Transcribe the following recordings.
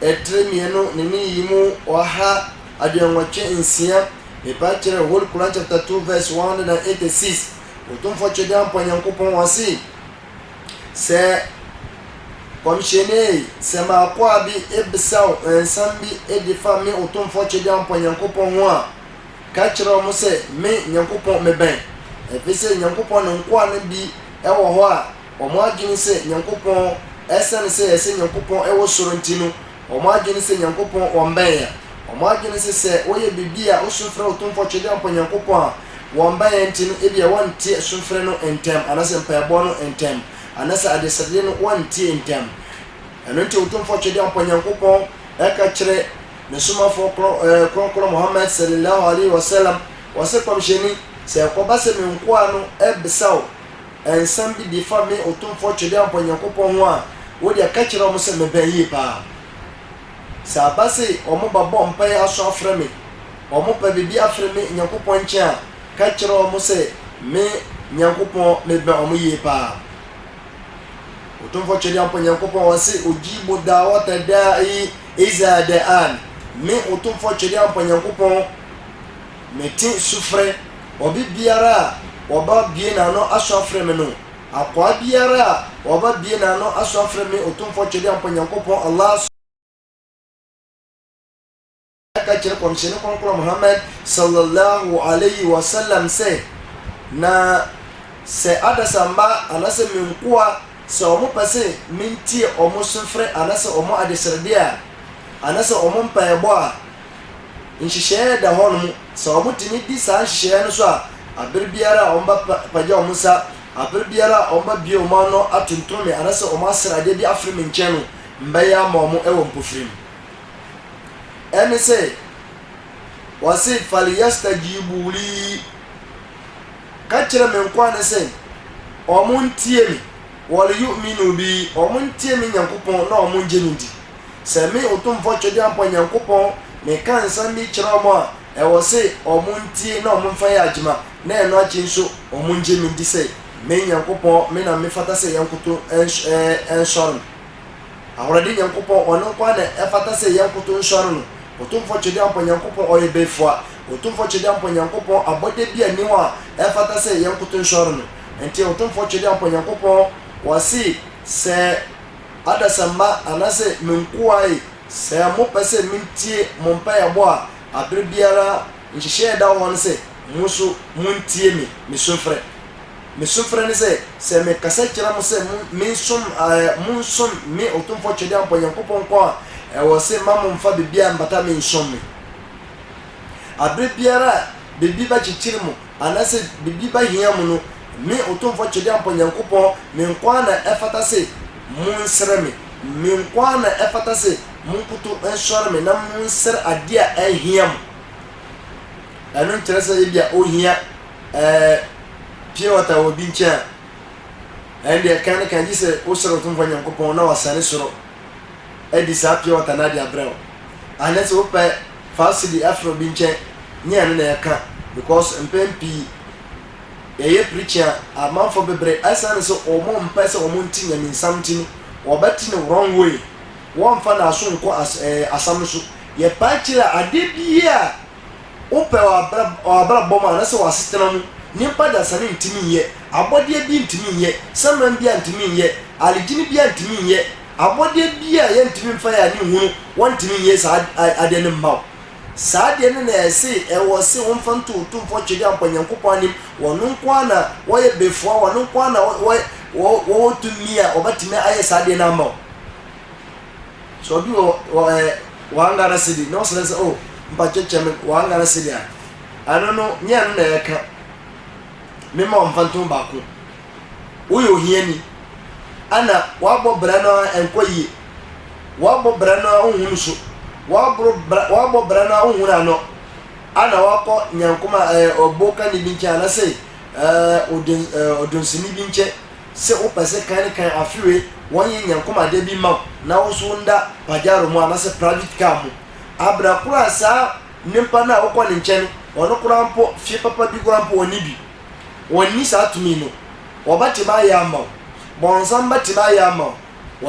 ɛtrɛ mmienu ne ne yiyimu ɔha aduonnwɔtwe nsia, pepa kyerɛ Whole Quran chapter 2 verse 186, Otumfoɔ Twedeampɔ Nyankopɔn ɔse, Sɛ Kɔmhyɛnie, sɛ m'akoa bi bisa wo nsɛm bi de fa me Otumfoɔ Twedeampɔ Nyankopɔn ho a, ka kyerɛ wɔn sɛ, Me, Nyankopɔn, mebɛn, efisɛ Nyankopɔn ne nkoa no bi wɔ hɔ a, Wɔn adwene sɛ Nyankopɔn, ɛsiane sɛ ɛsɛ Nyankopɔn wɔ soro nti no, wɔn adwene sɛ Nyankopɔn wɔmmɛn yɛn. Wɔn adwene sɛ sɛ wɔyɛ biribi a wɔsu frɛ Otumfoɔ Twedeampɔ Nyankopɔn a, wɔmmɛn yɛn nti no, ebia wɔnteɛ su frɛ no ntɛm, anaasɛ mpaebɔ no ntɛm, anaasɛ adesrɛdeɛ no wɔnteɛ ntɛm. Ɛno nti Otumfoɔ Twedeampɔ Nyankopɔn ka kyerɛ Ne Somafoɔ Kronkron Muhammad Sallallahu Alaihi Wasallam, ɔse, Kɔmhyɛni, sɛ ɛkɔba sɛ me nkoa no bisa wo, nsɛm bi de fa me Otumfoɔ Twedeampɔ Nyankopɔn ho a, wo deɛ ka kyerɛ wɔn sɛ mebɛn yie paa. Sɛ aba se wɔba bɔ mpaeɛ aso afrɛ me, wɔpɛ biribi afiri me Nyankopɔn nkyɛn a, ka kyerɛ wɔn sɛ me Nyankopɔn mebɛn wɔn yie paa. Otumfoɔ Twedeampɔ Nyankopɔn ɔse, Ujibu dawata da'i iza da'an. Me Otumfoɔ Twedeampɔ Nyankopɔn Mete sufrɛ, obi biara a ɔba bue n'ano aso afrɛ me no, akoa biara a ɔba bue n'ano aso afrɛ me Otumfoɔ Twedeampɔ Nyankopɔn Allah so, na ka kyerɛ Kɔmhyɛni Kronkron Muhammad Sallallahu Alaihi Wasallam sɛ, Na sɛ adasamba anaasɛ me nkoa sɛ wɔn pɛ se mentie wɔn sufrɛ anaasɛ wɔn adesrɛdeɛ a, anaasɛ wɔn mpaebɔ a, nhyehyɛɛ da hɔ nom, sɛ wɔn tumi di saa nhyehyɛɛ no so a, aber biara a wɔn ba pagya wɔn nsa, aber biara a wɔn ba bue wɔn ano atonton me anaa sɛ wɔn aser adeɛ bi afre me nkyɛn no, mbɛyɛ ama wɔn wɔ mpofirem. Ɛne sɛ, wɔse, Falyastajibu li, ka kyerɛ me nkoa no sɛ, wɔn ntie me, walyu'minu bi, wɔn ntie me Nyankopɔn na wɔn ngye me ndi. Sɛ me Otumfoɔ Twedeampɔ Nyankopɔn meka nsɛm bi kyerɛ wɔn a, ɛwɔ se wɔn ntie na wɔn nfa yɛ adwuma, na ɛno akyi nso wɔn ngye me ndi sɛ me Nyankopɔn, me na me fata sɛ yɛnkoto nsɔre no. Ahoɔden Nyankopɔn, Ɔno nko ara na ɛfata sɛ yɛnkoto nsɔre no. Otumfoɔ Twedeampɔ Nyankopɔn, Ɔyɛ Befua, Otumfoɔ Twedeampɔ Nyankopɔn, abɔdeɛ bi a nni hɔ a ɛfata sɛ yɛnkoto nsɔre no. Enti Otumfoɔ Twedeampɔ Nyankopɔn, Ɔse sɛ. adasamma anaasɛ me nkoa e, sɛ mopɛ sɛ mentie mo mpaeɛbɔ a, aberɛ biara nhyehyɛɛ a ɛda hɔ ne sɛ mo nso montie me, me sufrɛ. Me sufrɛ ne sɛ, sɛ mekasa kyerɛ mo sɛ mensom, ɛɛ, monsom me Otumfoɔ Twedeampɔ Nyankopɔn nko a, ɛwɔ se mma momfa biribiara mmata me nsom me. Aberɛ biara a biribi bɛkyekyere mo, Ana sɛ biribi ba hia mu no, me, Otumfo Twedeampɔ Nyankopɔn, me nko ara na ɛfata se monsrɛ me, me nko ara na ɛfata se monkoto nsɔre me na monsrɛ ade a ahia mo. Ɛno nkyerɛ sɛ ebia ohia ɛɛ pure water wɔ obi nkyɛn a, ɛnde ɛkan ne kan gye sɛ wosrɛ Otumfo Nyankopɔn na wasane soro adi saa pure water no ade abrɛ wo anɛ sɛ wopɛ fa wo sidi frɛ obi nkyɛ nyɛ ɛno na yɛka because mpɛn pii yɛyɛ preaching a amanfoɔ bebre ɛsiane sɛ wɔn mpɛ sɛ wɔn nte nyamensam nti no wɔbɛte no wrong way wɔmfa naaso nkɔ as ɛɛ asam no so yɛpae kyerɛ a adeɛ biaa Wopɛ wɔ abrabɔ mu anaasɛ wɔ asetena mu, nyimpa dasani nntumi nnyɛ, abɔdeɛ bi nntumi nnyɛ, saman bi a nntumi nnyɛ, aligyini bi a nntumi nnyɛ, abɔdeɛ bi a yɛnntumi mmfa yɛn ani nhunu, wɔnntumi nnyɛ saa adeɛ no mma wo. Saa adeɛ no na ɛse ɛwɔ se womfa nto Otumfoɔ Twedeampɔ Nyankopɔn anim, Ɔno nko ara na Ɔyɛ Befoa, Ɔno nko ara na Ɔwɔ tumi a Ɔbɛtumi ayɛ saa adeɛ no ama wo. So obi wɔ wɔ ɛ wɔn Ghana cedi na ɔsrɛ sɛ oh mpakyɛ kyɛ me wɔn Ghana cedi a ɛno no nyɛ ɛno na ɛka mema wɔn mfantom baako woyɛ ohiani ɛna wabɔ brɛ no a ɛnkɔ yie wabɔ brɛ no a wohunu so wabɔ brɛ wabɔ brɛ no a wohunu ano ɛna wakɔ nyankoma ɛɛ ɔbo kani bi nkyɛn anasɛ ɛɛ odon ɛɛ odonsini bi nkyɛn Se wo pɛ se kan kan afewe wɔn ye nyankomade bi ma wo na wo nso wo nda Pajaro mu anase private car mu abra koro a saa nimpa no a wo kɔ ne nkyɛn no ɔno koraa mpo fie papa bi koraa mpo ɔnni bi. Ɔnni saa tumi no. Ɔbɛtemi ayɛ ama wo. Bɔnsam bɛtemi ayɛ ama wo.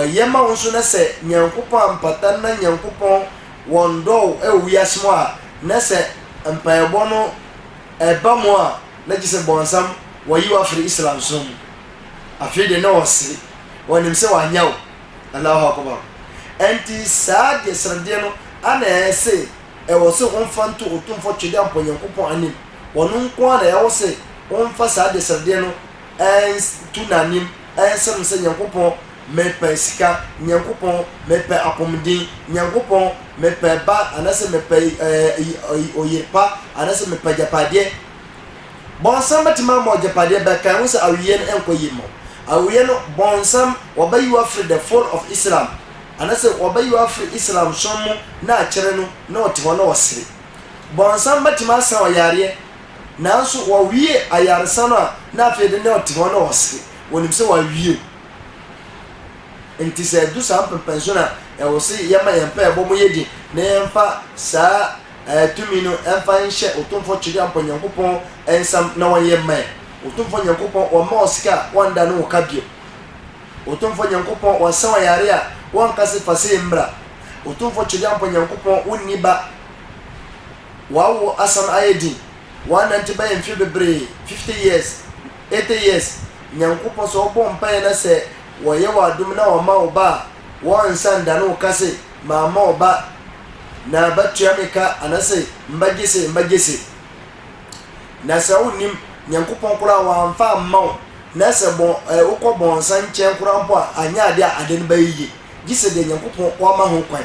Ɔyɛ ma wo nso na sɛ Nyankopɔn ampata no na Nyankopɔn wɔndɔ wo wɔ wiase mu a na sɛ mpaebɔ no ɛba mu a na gyesɛ bɔnsam wayi wo afri Islam som mu afei deɛ na ɔsere ɔnim sɛ wanyɛ wo Allahu Akubar ɛnti saa deɛ seredeɛ no ana ɛse ɛwɔ se womfa nto Otumfoɔ twedeɛ Ampɔ Nyankopɔn anim ɔno nko ara na ɛwɔ se womfa saa deɛ seredeɛ no nto n'anim nsere no sɛ Nyankopɔn Mepɛ sika, Nyankopɔn, mepɛ apɔmuden, Nyankopɔn, mepɛ ba anaasɛ mepɛ ɔyere pa anaasɛ mepɛ agyapadeɛ. Bɔnsam bɛtumi ama ɔgyapadeɛ bɛ kan ho sɛ aweɛ no nkɔ yie mma wo. Aweɛ no bɔnsam wɔbɛyi wo afiri the fold of Islam anaasɛ wɔbɛyi wo afiri Islam som mu na akyɛrɛ no na ɔte hɔ na ɔsere. Bɔnsam bɛtumi asa ɔyareɛ nanso wɔwie ayaresa no a na afei de na ɔte hɔ na ɔsere, ɔnim sɛ wɔawie o. Enti sɛ ɛdu saa mpɛmpɛnso no a, ɛwɔ se yɛma yɛn mpaebɔ mu yɛ den na yɛmfa saa tumi no mfa nhyɛ Otumfoɔ Twereampɔ Nyankopɔn nsam na ɔnyɛ mma yɛn. Otumfoɔ Nyankopɔn, wɔmma wo sika a wɔnda ne wo ka bio. Otumfoɔ Nyankopɔn, wɔnsa wo yare a wɔnka se fa sei mmra. Otumfoɔ Twereampɔ Nyankopɔn, wonni ba. W'awo asan ayɛ din, w'anante bɛyɛ mfe bebree, fifty years, eighty years, Nyankopɔn sɛ ɔbɔ mpaeɛ na sɛ wɔyɛ wo adom na wɔma wo ba a, wɔnsa ndane wo ka se mamma wo ba na ba tua me ka anase mba gye se mba gye se. Na sɛ wo nim Nyankopɔn koraa w'anfa amma wo na sɛ bɔ eh wo kɔ bɔnsa nkyɛn koraa mpo a anyɛ adeɛ a ade no bɛyɛ yie gye sɛ deɛ Nyankopɔn w'ama ho kwan.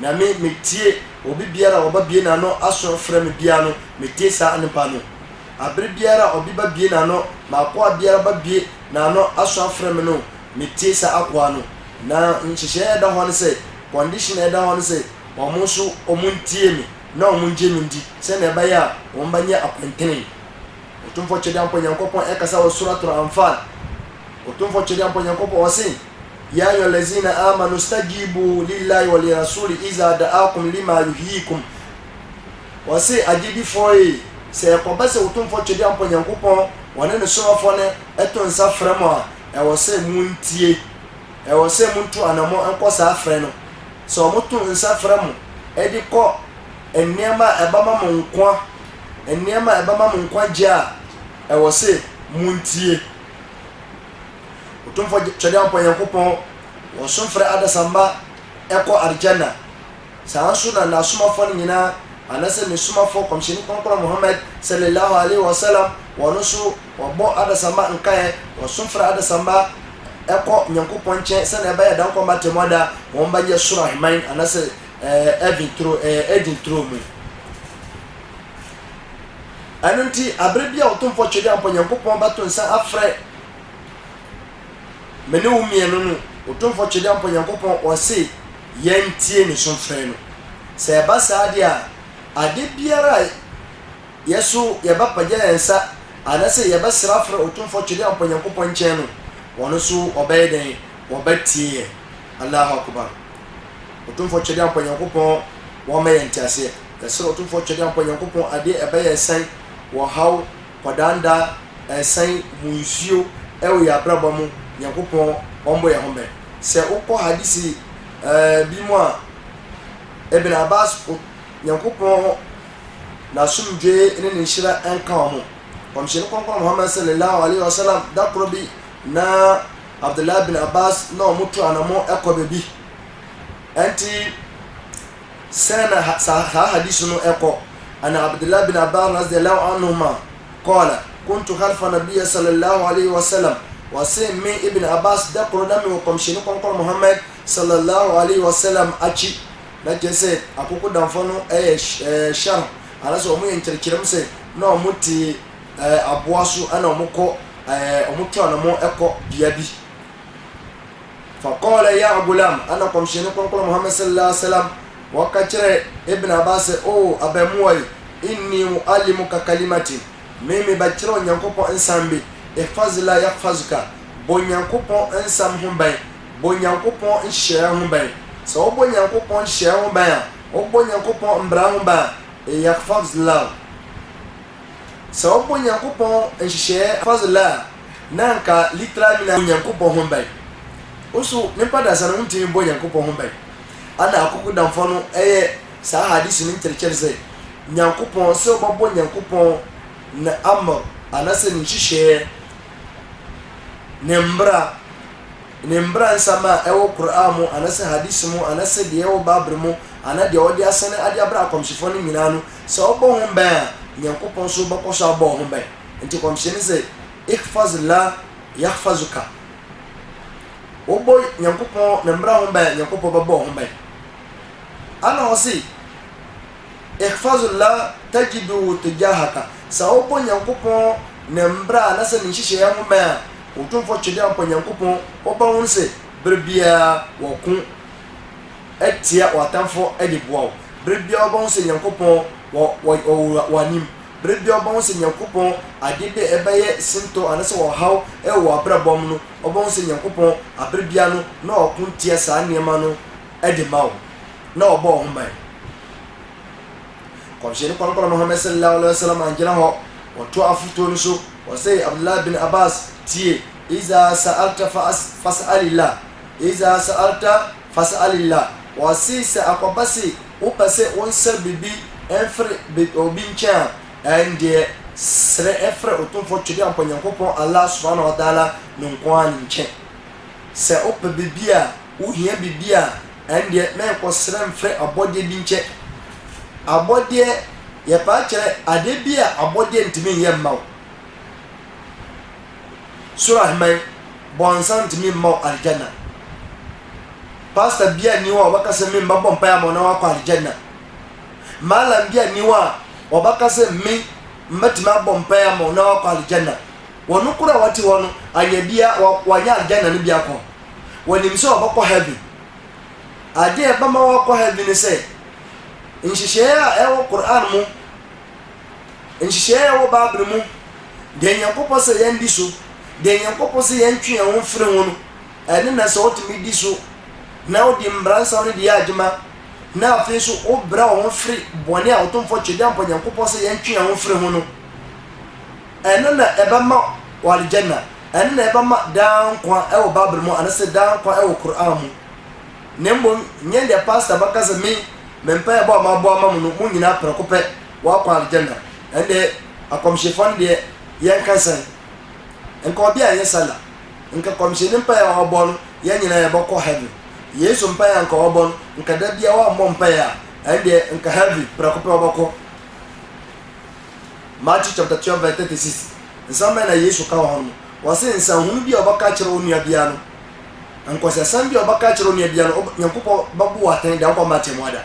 Na me, metie obi biara a ɔbabue n'ano aso frɛ me biara no, metie saa nnepa no. Abere biara a obi babue n'ano, m'akoa biara babue n'ano aso afrɛ me no, metie saa akoa no. Na nhyehyɛe a ɛda hɔ ne sɛ, condition a ɛda hɔ ne sɛ, wɔn nso wɔntie me na wɔngye me ndi, sɛnea ɛbɛyɛ a wɔbɛnyɛ akwantene. Otumfoɔ Twedeampɔ Nyankopɔn ɛkasa wɔ Surat Al-Anfal, Otumfoɔ Twedeampɔ Nyankopɔn ɔse, Ya ayuha lazina amanu stajibu lillahi wa li rasuli iza da'akum lima yuhyikum. Ɔse agyedifoɔ ee, sɛ ɛkɔba sɛ Otumfoɔ Twedeampɔ Nyankopɔn ɔne ne Somafoɔ no to nsa frɛ mo a, ɛwɔ sɛ montie, ɛwɔ sɛ montu anammɔn nkɔ saa frɛ no. Sɛ wɔto nsa frɛ mo de kɔ nneɛma a ɛbɛma mo nkwa, nneɛma a ɛbɛma mo nkwagyeɛ a, ɛwɔ sɛ montie. Otumfo Kyerɛwpɔn Nyankopɔn wɔ so frɛ adesamma kɔ Aljanna. Saa ara nso na N'asomafo no nyinaa, anaasɛ Ne Somafo Kɔmhyɛni Kronkron Muhammad Sallallahu Alaihi Wasallam, wɔn nso wɔbɔ adesamma nkaeɛ, wɔ so frɛ adesamma kɔ Nyankopɔn nkyɛn sɛnea ɛbɛyɛ da nkwa mma atemmuada wɔn bɛnyɛ Soro Aheman anaasɛ Heaven turo, Eden turo mu. Ɛno nti, bere bi a ɔtomfo Twede Ampɔn Nyankopɔn bɛto nsa afrɛ me ne wo mmienu no, ɔtomfo Twede Ampɔn Nyankopɔn ɔse yɛntie ne so frɛ no. Sɛ ɛba saa deɛ a, ade biara a yɛ so yɛbɛpagya yɛn nsa anasɛ yɛbɛsrɛ afrɛ ɔtomfo Twede Ampɔn Nyankopɔn nkyɛn no, ɔno nso ɔbɛyɛ dɛn? Ɔbɛtie yɛn. Allahu Akubar. Ɔtomfo Twede Ampɔn Nyankopɔn wɔma yɛn nteaseɛ. Kɛse na Otumfoɔ Twedeampɔ Nyankopɔn adeɛ ɛbɛyɛ ɛsɛn wɔ haw, kɔdaandaa, ɛsɛn mu nsuo ɛwɔ yɛn abrabɔ mu, Nyankopɔn ɔmbɔ yɛn ho bɛn. Sɛ wo kɔ Hadisi ɛɛ bi mu a, Ibn Abbas O Nyankopɔn N'asomdwoeɛ ne Ne nhyira nka wɔn, Kɔmhyɛni Kronkron Muhammad Sallallahu Alaihi Wasallam da korɔ bi na Abdullah bin Abbas na wɔn tu anamɔn ɛkɔ baabi, ɛnti, Sɛn na saa hadis no kɔ? An Abdullah bin Abbas radiyallahu anhuma qala, Kuntu khalfa Nabiyyi sallallahu alayhi wa sallam, Ɔse, me Ibn Abbas da koro na mewɔ Kɔmhyɛni Kronkron Muhammad sallallahu alayhi wa sallam akyi. Na kyerɛ sɛ akokodamfoɔ no yɛ Sharh, anaasɛ wɔn yɛ nkyerɛkyerɛmu sɛ na wɔte aboa so na wɔkɔ, wɔtwe wɔn ho kɔ bea bi. Fakɔɔlɛ ya agulaam, ana kɔmhyɛni kɔnkɔn Muhammad sallallahu alaihi wasallam wɔka kyerɛɛ Ibn Abbas sɛ, O abɛmoa yi, inni mu'allimuka kalimatin, me mebɛkyerɛ wo Nyankopɔn nsɛm bi, ihfazillah yahfazuka, bɔ Nyankopɔn nsɛm ho bɛn, bɔ Nyankopɔn nhyehyɛɛ ho bɛn, sɛ wobɔ Nyankopɔn nhyehyɛɛ ho bɛn a, wobɔ Nyankopɔn mbra ho bɛn a, yahfazillahu, sɛ wobɔ Nyankopɔn nhyehyɛɛ, ihfazillah, na anka literal meaning nye Nyankopɔn ho ban. Nso nyimpa dasa no wonntumi mmbɔ Nyankopɔn ho ban. Ana akokodamfo no yɛ saa hadisi no nkyerɛkyerɛ dze, Nyankopɔn, sɛ wɔbɔbɔ Nyankopɔn ne amr anasɛ ne nhyehyɛɛ, ne mbra, ne mbransɛm a ɛwɔ Qur'aan mu anasɛ hadisi mu anasɛ deɛ ɛwɔ Babre mu anaa deɛ wɔde asɛne ade abrɛ akɔmhyefɔ no nyinaa no, sɛ wɔbɔ ho ban a, Nyankopɔn nso bɛkɔ so abɔ wɔn ho ban. Enti kɔmhyɛni se, Ihfaz llah yahfazuka, Wobɔ Nyankopɔn ne mmra ho ban a, Nyankopɔn bɛbɔ wo ho ban. Ana ɔse, Ihfaz llah tajiduhu tujahaka, Sɛ wobɔ Nyankopɔn ne mmra anasɛ ne nhyehyɛeɛ ho ban a, Otumfoɔ Twedeampɔ Nyankopɔn wobɛhunu se bere biara wɔko tia w'atamfoɔ de boa wo. Bere biara wobɛhunu se Nyankopɔn wɔ w'anim. Bere biara wɔbɛhu sɛ Nyankopɔn ade bi a ɛbɛyɛ sintɔ anaasɛ ɔhaw wɔ wɔn abrabɔ mu no, wɔbɛhu sɛ Nyankopɔn bere biara no na ɔko tia saa nneɛma no de ma wɔn, na ɔbɔ wɔn ho ban. Nkɔmhyɛni Kɔnkɔn Muhammad sallallâhu alaihi wa sallam angyina hɔ, ɔtoaa afotuo no so, ɔsɛe Abdullah bin Abbas, tie, Izaa sa'alta fas, fas'alillah, Izaa sa'alta Fas'alillah, ɔse sɛ akɔba se wopɛse wo nsa biribi mfre obi nkyɛn a, ɛndeɛ sre fre Otumfoɔ Twedeampɔ Nyankopɔn Allah subhaanahu wa ta'ala no nko ara ne nkyɛn. Sɛ wopɛ biribi a, wohia biribi a, ɛndeɛ mɛnkɔ sre mfre abɔdeɛ bi nkyɛn. Abɔdeɛ, yɛpaa kyerɛ adeɛ bi a abɔdeɛ ntumi nyɛ mma wo. Soro aheman, bɔnsa ntumi mma wo Aljanna. Pastor bia nni hɔ a ɔbɛka sɛ me mmɛbɔ mpaeɛ ama wo na woakɔ Aljanna. Malam bia nni hɔ a ɔbɛka sɛ me mmɛtumi abɔ mpaeɛ ama wo na woakɔ Aljanna. Wɔno koro a wate hɔ no, anyɛ bia wanyɛ Aljanna no bi akɔ. Wɔnim sɛ ɔbɛkɔ heaven. Adeɛ ɛbɛma woakɔ heaven ne sɛ, nhyehyɛeɛ a ɛwɔ Qur'aan mu Nhyehyɛe a ɛwɔ Bible mu deɛ Nyankopɔn sɛ yɛn di so, deɛ Nyankopɔn sɛ yɛn twe yɛn ho mfiri ho no, ɛne na sɛ wotumi di so na wodi mmaransɛm no de yɛ adwuma, na afei nso wobrɛ wo ho firi bɔne a Otumfoɔ Twedeampɔ Nyankopɔn sɛ yɛn twe yɛn ho mfiri ho no, ɛno na ɛbɛma wɔ Aljanna, ɛno na ɛbɛma daa nkwa ɛwɔ Bible mu anasɛ daa nkwa ɛwɔ Qur'an mu. Na mmom nyɛ deɛ Pastor bɛka sɛ me me mpaebɔ a mabɔ ama mo no mo nyinaa prɛko pɛ wɔakɔ Aljanna. Ɛnde akɔmhyefɔ no deɛ yɛnka sɛn? Nka obi anyɛ Salah, nka kɔmhyɛni mpaeɛ a ɔbɔ no yɛn nyinaa yɛbɛkɔ Heaven. Yesu mpaeɛ a nka ɔbɔ no, nka da biara wammɔ mpaeɛ a, ɛndeɛ nka Heaven prɛko pɛ ɔbɛkɔ. Matthew chapter 12 verse 36 Nsɛm bɛn na Yesu ka wɔ hɔ no mu? Ɔse nsɛnhunu bi a ɔbɛka akyerɛ wo nua biara no, nkɔsɛsɛm bi a ɔbɛka akyerɛ wo nua biara no, Nyankopɔn bɛbu wo atɛn de akɔ ama atemmu ada.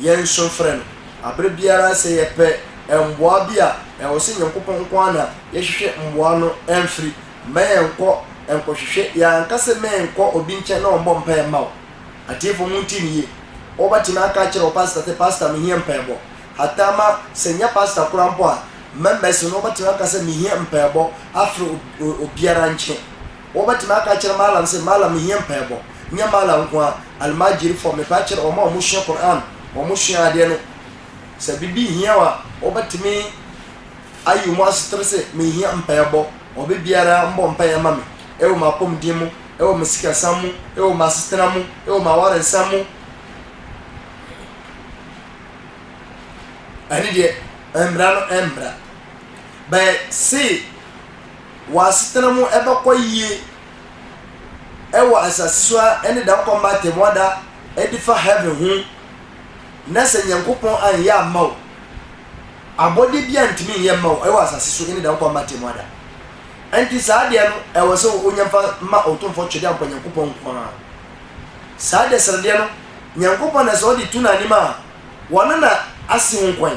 Yɛn nso frɛ no aberɛ biara sɛ yɛpɛ mmoa bi a, ɛwɔ sɛ Nyankopɔn nko ara na yɛhwehwɛ mmoa no mfiri. Mma yɛnkɔ nkɔhwehwɛ yɛn ankasa mma yɛnkɔ obi nkyɛn na ɔmmɔ mpaeɛ mma wo. Atiefoɔ montie me yie, wobɛtumi aka akyerɛ wo pastor sɛ, Pastor mehia mpaebɔ. Hataa ma sɛ ɛnyɛ pastor koraa mpo a, members no wobɛtumi aka sɛ mehia mpaebɔ afiri obiara nkyɛn. Wɔbɛtumi aka akyerɛ Mallam sɛ, Mallam, mehia mpaebɔ. Nyɛ Mallam nko ara, almajirifo, metaa kyerɛ wɔn a wɔsua Qur'aan, wɔsua adeɛ no, sɛ biribi hia wɔn a, wɔbɛtumi ayi wɔn asetra sɛ, mehia mpaebɔ, obibiara mmɔ mpaeɛ mma me, ɛwɔ m'apɔmuden mu, ɛwɔ me sikasam mu, ɛwɔ m'asetra mu, ɛwɔ m'awaresɛm mu. Ɛne deɛ, ɛmmra no ɛmmra. But see, wɔn asetena mu bɛkɔ yie wɔ asase so ara ne da ɔkɔm ba atɛmmoa da de fa heaven ho na sɛ Nyankopɔn anyɛ amma wo abɔdeɛ biara ntumi nyɛ mma wo wɔ asase so ne da ɔkɔm ba atɛmmoa da ɛnti saa adeɛ no ɛwɔ sɛ wonya fa ma ɔtomfoɔ twɛdeɛ ampɔ Nyankopɔn nko ara saa deɛ sradeɛ no Nyankopɔn na sɛ ɔde tu n'anim a wɔn na ase ho kwan